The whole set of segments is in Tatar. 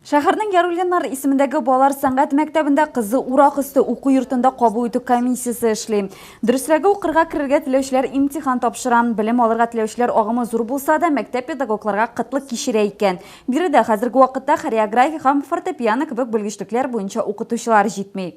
Шәһәрнең Яруллиннар исемендәге балалар сәнгать мәктәбендә кызы урак өсте уку йортында кабул итү комиссиясе эшли. Дөресрәге, укырга керергә теләүчеләр имтихан тапшыра. Белем алырга теләүчеләр агымы зур булса да, мәктәп педагогларга кытлык кичерә икән. Биредә хәзерге вакытта хореография һәм фортепиано кебек белгечлекләр буенча укытучылар җитми.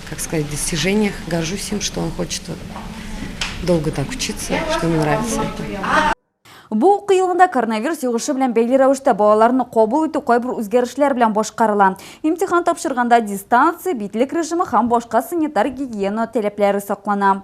как сказать, достижениях. Горжусь им, что он хочет вот долго так учиться, что ему нравится это. Бу уку елында коронавирус йогышы белән бәйле рәвештә балаларны кабул итү кайбер үзгәрешләр белән башкарыла. Имтихан тапшырганда дистанция, битлек режимы һәм башка санитар гигиена таләпләре саклана.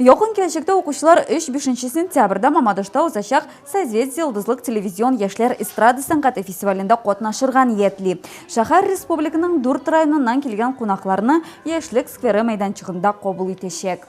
Якын киләчәктә укучылар 3-5 сентябрьдә Мамадышта узачак Созвездие йолдызлык телевизион яшьләр эстрада сәнгате фестивалендә катнашырга ниятли. Шәһәр республиканың дүрт районыннан килгән кунакларны Яшьлек скверы мәйданчыгында кабул итәчәк.